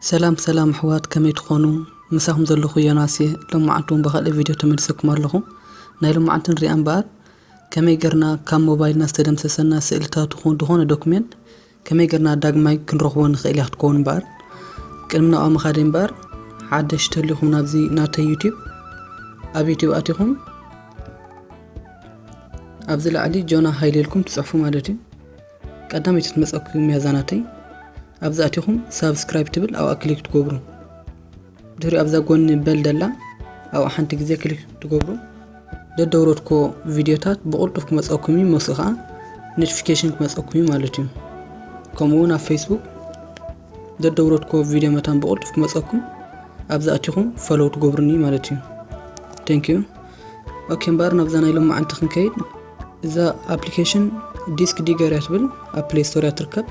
ሰላም ሰላም ኣሕዋት ከመይ ትኾኑ ምሳኹም ዘለኹ ዮናስ እየ ሎማዓንቲ እውን ብካልእ ቪድዮ ተመልሰኩም ኣለኹ ናይ ሎማዓንቲ ንሪኣ እምበኣር ከመይ ገርና ካብ ሞባይልና ዝተደምሰሰና ስእልታት ይኹን ዝኾነ ዶክሜንት ከመይ ገርና ዳግማይ ክንረኽቦ ንኽእል እያ ክትከውን እምበኣር ቅድሚ ናብኣ ምኻደይ እምበኣር ሓደሽ ተሊኹም ናብዚ ናተይ ዩትብ ኣብ ዩትብ ኣቲኹም ኣብዚ ላዕሊ ጆና ሃይለ ኢልኩም ትፅሕፉ ማለት እዩ ቀዳመይቲ ትመጸኩም እያ ዛናተይ ኣብዚ ኣቲኹም ሳብስክራይብ ትብል ኣብኣ ክሊክ ትገብሩ ድሕሪኡ ኣብዛ ጎኒ በል ደላ ኣብኣ ሓንቲ ግዜ ክሊክ ትገብሩ ደደውረትኮ ቪድዮታት ብቕልጡፍ ክመፀኩም እዩ መስ ከዓ ኖቲፊኬሽን ክመፀኩም እዩ ማለት እዩ ከምኡ እውን ኣብ ፌስቡክ ደደውረትኮ ቪድዮ መታን ብቕልጡፍ ክመፀኩም ኣብዚ ኣቲኹም ፈለው ትገብሩኒ ማለት እዩ ቴንክ ዩ ኦኬ እምበኣር ናብዛ ናይ ሎማዓንቲ ክንከይድ እዛ ኣፕሊኬሽን ዲስክ ዲገር እያ ትብል ኣብ ፕሌይ ስቶር እያ ትርከብ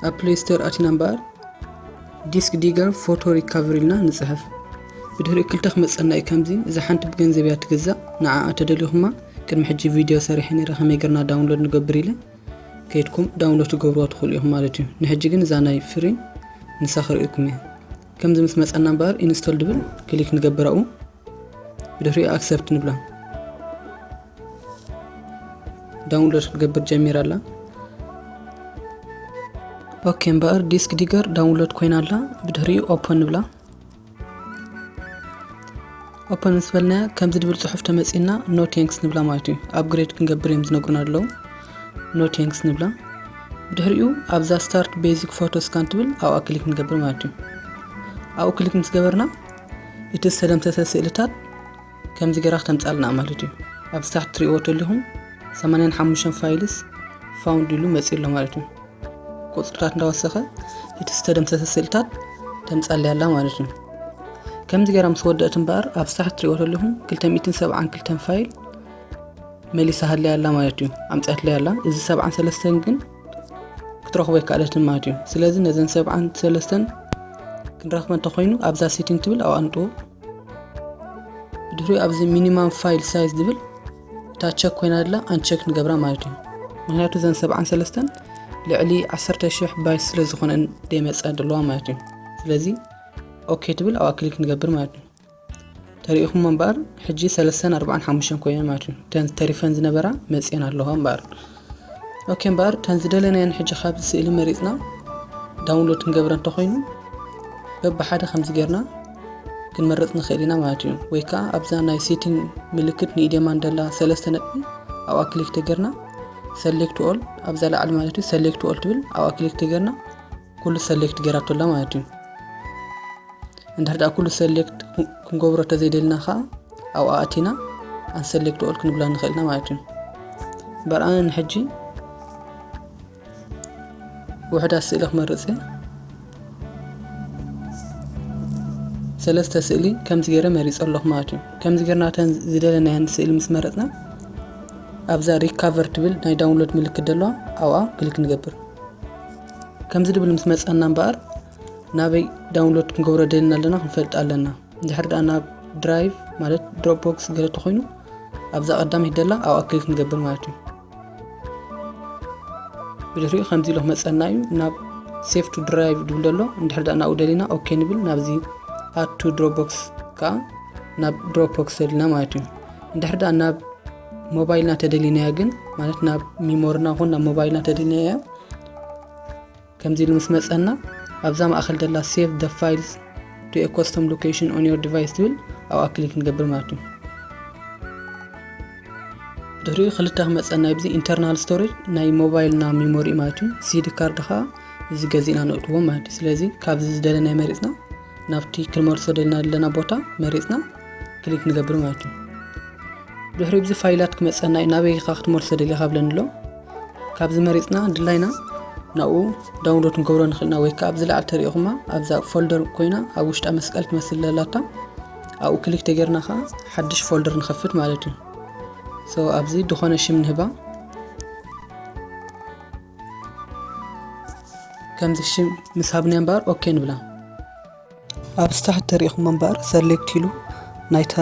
ኣብ ፕሌይ ስቶር ኣቲና እምበኣር ዲስክ ዲገር ፎቶ ሪካቨሪ ኢልና ንፅሕፍ ብድሕሪኡ ክልተ ክመፀና እዩ ከምዚ እዛ ሓንቲ ብገንዘብ እያ ትግዛእ ንዓ ተደሊኹማ ቅድሚ ሕጂ ቪድዮ ሰሪሐ ነረ ከመይ ገርና ዳውንሎድ ንገብር ኢለ ከይድኩም ዳውንሎድ ትገብርዋ ትኽእሉ ኢኹም ማለት እዩ ንሕጂ ግን እዛ ናይ ፍሪ ንሳ ክርእኩም እየ ከምዚ ምስ መጸና እምበኣር ኢንስቶል ድብል ክሊክ ንገብር ኣብኡ ብድሕሪኡ ኣክሰፕት ንብላ ዳውንሎድ ክትገብር ጀሚራ ኣላ ኦኬ እምበኣር ዲስክ ዲገር ዳውንሎድ ኮይና ኣላ ብድሕሪኡ ኦፕን ንብላ ኦፐን ምስ በልናያ ከምዚ ድብል ጽሑፍ ተመጺና ኖ ቴንክስ ንብላ ማለት እዩ ኣፕግሬድ ክንገብር እዮም ዝነግሩና ኣለዉ ኖ ቴንክስ ንብላ ብድሕሪኡ ኣብዛ ስታርት ቤዚክ ፎቶ ስካን ትብል ኣብኣ ክሊክ ንገብር ማለት እዩ ኣብኡ ክሊክ ምስ ገበርና እቲ ዝተደምሰሰ ስእልታት ከምዚ ገራ ክተምጻልና ማለት እዩ ኣብ ታሕቲ ትሪእዎ ተለኹም 85 ፋይልስ ፋውንድ ኢሉ መጺኡ ኣሎ ማለት እዩ ቁፅርታት እንዳወሰኸ እቲ ዝተደምሰሰ ስእልታት ተምፃለይ ኣላ ማለት እዩ ከምዚ ገይራ ምስ ወደእት እምበኣር ኣብ ሳሕ ትሪኦ ዘለኹም 272 ፋይል መሊሳ ሃለይ ኣላ ማለት እዩ ኣምፅኣትለይ ኣላ እዚ 73 ግን ክትረኽቦ ይከኣለትን ማለት እዩ ስለዚ ነዘን 73 ክንረኽበ እንተኮይኑ ኣብዛ ሴቲንግ ትብል ኣዋንጥዎ ድሕሪኡ ኣብዚ ሚኒማም ፋይል ሳይዝ ዝብል እታ ቸክ ኮይና ኣላ ኣንቸክ ንገብራ ማለት እዩ ምክንያቱ ዘን ሰብዓን ሰለስተን ልዕሊ 1 ሽሕ ባይት ስለ ዝኾነን ደይመፀ ደለዋ ማለት እዩ ስለዚ ኦኬ ትብል ኣብኣ ክሊክ ንገብር ማለት እዩ ተሪኢኹም እምበኣር ሕጂ ሰለስተን ኣርባዓን ሓሙሽተን ኮይነን ማለት እዩ እተን ተሪፈን ዝነበራ መፅኤን ኣለዋ እምበኣር ኦኬ እምበኣር እተን ዝደለናየን ሕጂ ካብዚ ስእሊ መሪጽና ዳውንሎድ ክንገብረ እንተኾይኑ በብሓደ ከምዚ ጌርና ክንመርጽ ንኽእል ኢና ማለት እዩ ወይ ከዓ ኣብዛ ናይ ሴቲንግ ምልክት ንኢዴማን ደላ ሰለስተ ነጥቢ ኣብኣ ክሊክ ተገርና ሰሌክት ኦል ኣብዛ ላዕሊ ማለት እዩ ሰሌክት ኦል ትብል ኣብኣ ክሊክ ተገርና ኩሉ ሰሌክት ጌራቶ ኣላ ማለት እዩ እንድሕር ደኣ ኩሉ ሰሌክት ክንገብሮ ተዘይደልና ከዓ ኣብኣ ኣቲና ኣንሰሌክት ኦል ክንብላ ንኽእልና ማለት እዩ እምበር ኣነ ንሕጂ ውሕዳት ስእሊ ክመርፅ እየ ሰለስተ ስእሊ ከምዚ ገይረ መሪፀ ኣለኹ ማለት እዩ ከምዚ ገርናተን ዝደለናየን ስእሊ ምስ መረፅና ኣብዛ ሪካቨር ትብል ናይ ዳውንሎድ ምልክት ዘለዋ ኣብኣ ክሊክ ንገብር ከምዚ ድብል ምስ መጸና እምበኣር ናበይ ዳውንሎድ ክንገብሮ ደልና ኣለና ክንፈልጥ ኣለና እንድሕር ደኣ ናብ ድራይቭ ማለት ድሮፕ ቦክስ ገለ ተኮይኑ ኣብዛ ቀዳመይቲ ደላ ኣብ ኣክሊል ክንገብር ማለት እዩ ብድሕሪኡ ከምዚ ኢሎ ክመፀና እዩ ናብ ሴፍ ቱ ድራይቭ ድብል ደሎ እንድሕር ደኣ ናብኡ ደሊና ኦኬ ንብል ናብዚ ኣቱ ድሮፕ ቦክስ ከዓ ናብ ድሮፕ ቦክስ ደሊና ማለት እዩ እንድሕር ደኣ ናብ ሞባይልና ተደሊናያ ግን ማለት ናብ ሚሞርና ኹን ናብ ሞባይልና ተደሊናያ ከምዚ ኢሉ ምስ መፀና ኣብዛ ማእኸል ደላ ሴቭ ደ ፋይልስ ቱ ኤ ኮስተም ሎኬሽን ኦን ዮር ዲቫይስ ትብል ኣብኣ ክሊክ ንገብር ማለት እዩ ድሕሪኡ ክልተ ክመፀና ብዚ ኢንተርናል ስቶሬጅ ናይ ሞባይልና ሚሞሪ ማለት እዩ ሲዲ ካርድ ከዓ እዚ ገዚእና ንእትዎ ማለት እዩ ስለዚ ካብዚ ዝደለናይ መሪፅና ናብቲ ክንመልሶ ደልና ዘለና ቦታ መሪፅና ክሊክ ንገብር ማለት እዩ ድሕሪ ብዚ ፋይላት ክመፀና እዩ ናበይ ኢኻ ክትመልሶ ደሊኻ ብለኒ ኣሎ ካብዚ መሪፅና ድላይና ናብኡ ዳውንሎድ ክንገብሮ ንኽእልና ወይ ከዓ ኣብዚ ላዕሊ ተሪኢኹማ ኣብዛ ፎልደር ኮይና ኣብ ውሽጣ መስቀል ትመስል ዘላታ ኣብኡ ክሊክ ተገርና ከዓ ሓድሽ ፎልደር ንኸፍት ማለት እዩ ሶ ኣብዚ ድኾነ ሽም ንህባ ከምዚ ሽም ምስ ሃብና እምበኣር ኦኬ ንብላ ኣብ ስታርት ተሪኢኹም እምበር ሰሌክት ኢሉ ናይታ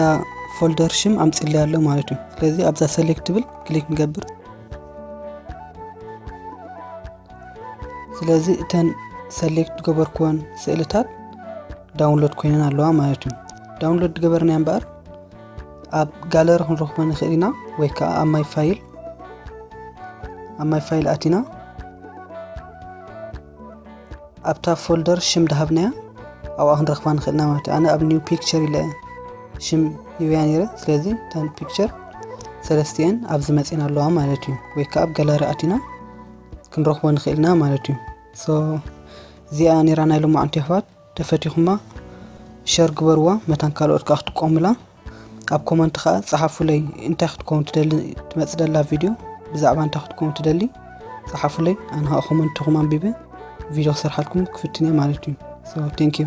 ፎልደር ሽም ኣምፅለይ ኣሎ ማለት እዩ ስለዚ ኣብዛ ሰሌክት ትብል ክሊክ ንገብር ስለዚ እተን ሰሌክት ዝገበርኩወን ስእልታት ዳውንሎድ ኮይነን ኣለዋ ማለት እዩ ዳውንሎድ ገበርና እምበር ኣብ ጋለሪ ክንረኽቦ ንኽእል ኢና ወይ ከዓ ኣብ ማይ ፋይል ኣብ ማይ ፋይል ኣቲና ኣብታ ፎልደር ሽም ድሃብናያ ኣብኣ ክንረክባ ንክእል ኢና ማለት እዩ ኣነ ኣብ ኒው ፒክቸር ኢለ ሽም ሂበያ ነይረ ስለዚ ታን ፒክቸር ሰለስቲኤን ኣብዚ መፂና ኣለዋ ማለት እዩ ወይ ከዓ ኣብ ገላሪ ኣቲና ክንረክቦ ንክእል ኢና ማለት እዩ ሶ እዚኣ ነራ ናይ ሎማዓንቲ ኣሕዋት ተፈቲኹማ ሸር ግበርዋ መታን ካልኦት ከዓ ክጥቀሙላ ኣብ ኮመንት ከኣ ጸሓፉለይ እንታይ ክትከውን ትደሊ ትመጽ ደላ ቪድዮ ብዛዕባ እንታይ ክትከውን ትደሊ ጸሓፉለይ ኣነ ከኣ ኮመንትኹም ኣንቢበ ቪድዮ ክሰርሓልኩም ክፍትን እየ ማለት እዩ ሶ ቴንክ ዩ